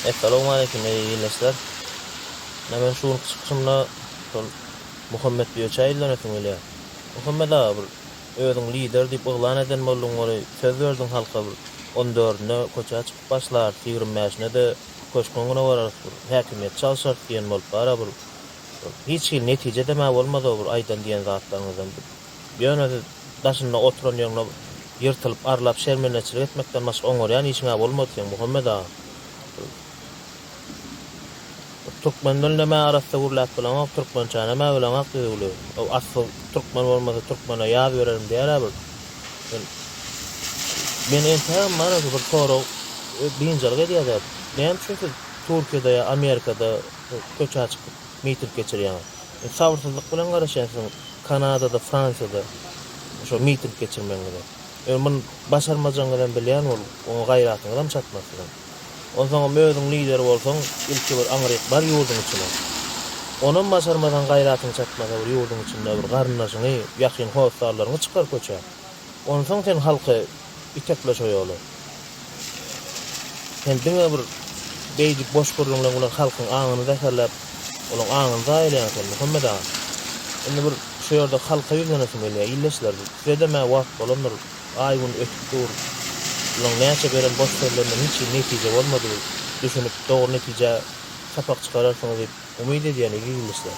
Essalowmaleýkim eý ildeşler. Ine men şu günki çykyşymda şol Muhammet Bioçä ýüzlenesim gelýär. Muhammet aga bir özüň lider diýip yglan eden bolduň gory söz berdiň halka bir on dördünde köçä çykyp başlarys ýigrim bäşinde-de köşküň öňüne bararys bir häkimiýeti çalşarys diýen bolup bara bir şol hiç hili netije dema bolmady o bir aýdan diýen zatlaryňyzdan bir Ýöne siz daşynda oturan ýeriňde ýyrtylyp, arlap, şermendeçilik etmekden başga oňarýan işiň-ä bolmady seň, Muhammet aga. Ol türkmen dilinem-ä arassa gürläp bileňok, türkmençänem-ä bileňok düzüwli. Ol asly türkmen bolmasa türkmen-ä ýaz bererin diýer-ä bir. Men, men entegem maňa şu bir sorag biynjalyk edýär-de, näme üçin siz Türkiýede ýa Amerikada köçä çykyp, miting geçirýäňiz. Men sabyrsyzlyk bilen garaşýan siziň Kanadada, Fransiýada şo miting geçirmegiňize. Ýöne muny başarmajagyňyzam bilýän ol, oňa gaýratyňyzam çatmaz siziň. Onsoňam özüň lider bolsaň, ilki bir aňryk bar ýurduň içine. Onam başarmasaň, gaýratyň çatmasa bir ýurduň içinde bir garyndaşyňy, ýakyn hossallaryňy çykar köçä. Onsoň sen halky Itekle şo ýoly. Sen diňe bir beýdip boş gürrüň bilen bular halkyň aňyny zäherläp, olaň aňyny zaýalaýaň sen Muhammet aga. Indi bir şo ýerde halka ýüzlenesim gelýär. Ildeşler, size-dem-ä wagt bolandyr, aý-gün ötüp dur. Bulaň näçe beren boş sözlerinden hiç hili netije bolmady. Düşünip, dogry netijä sapak çykararsyňyz diýip umyt edýän eziz ildeşler.